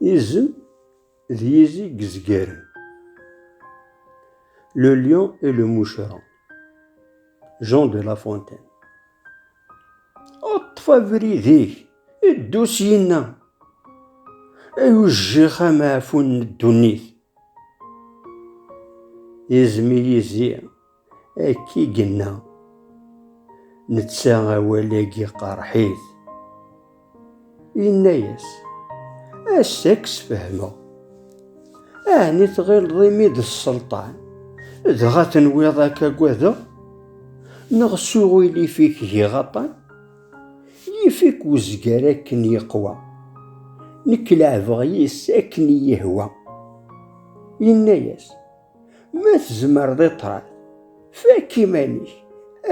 Izem d yizi yezgaren. Le lion et le moucheron. Jean de La Fontaine. Ṭṭef abrid-ik, ddu syin-a. Ay ujjix amaɛfun n ddunit. Izem i yizi Akka i yenna. Netta awal-agi qerḥit. Yenna-yas, Ass-a ad k-sfehmeɣ. Ɛni tɣileḍ imi d sselṭan, dɣa tenwiḍ ad k-agadeɣ? Neɣ s uɣilif-ik giɣ aṭṭan? Yif-ik uzgar akken yeqwa. Nekk leɛbeɣ yis-s akken i yi-ihwa. Yenna-yas, Ma tzemreḍ i ṭṭrad, fakk iman-ik,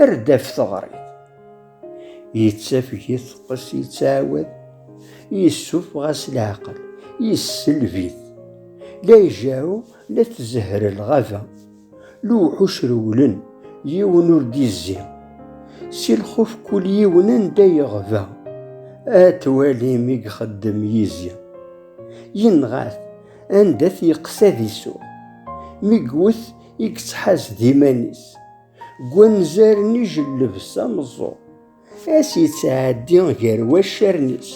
err-d af teɣrit. Yettafeg-it teqqes, yettɛawad, yessufeɣ-as leɛqel, yesselb-it. La ijerru, la tzehher lɣaba. Lewḥuc rewlen, yiwen ur d-yezzi. Si lxuf kul yiwen anda yeɣba. Ad twalim i ixeddem yizi. Yenɣa-t, Anda t-yeqqes ad isuɣ. Mi iwwet i yettḥaz d iman-is. Deg wanzaren ijelleb s ameẓẓuɣ. Ass yettɛeddi gar waccaren-is.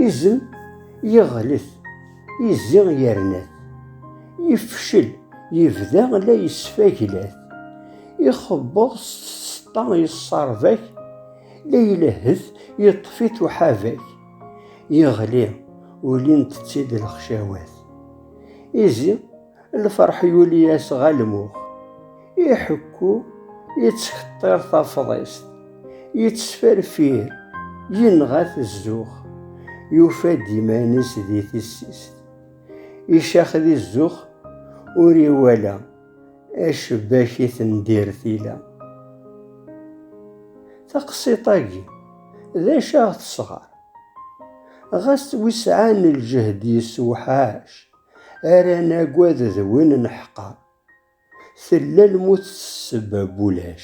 Izem yeɣlet, izzi yerna-t. Yefcel, yebda la yesfaglat. Ixebbeḍ s tseṭṭa yesserbak, la ilehhet yeṭṭef-it uḥabak. Yeɣli, ulint-tt-id lexcawat. Izi, lferḥ yuli-as ɣer lmux. Iḥekku, yettxeṭṭir tafḍist. Yettferfir, yenɣa-t zzux. Yufa-d iman-is di tissist. Icax di zzux, ur iwala. Acebbak i tendir tila. Taqsiṭ-agi, d acu aɣ tesɣer? Ɣas d wi sɛan lǧehd yessewḥac ara nagad d win neḥqer. Tella lmut s ssebba n wulac.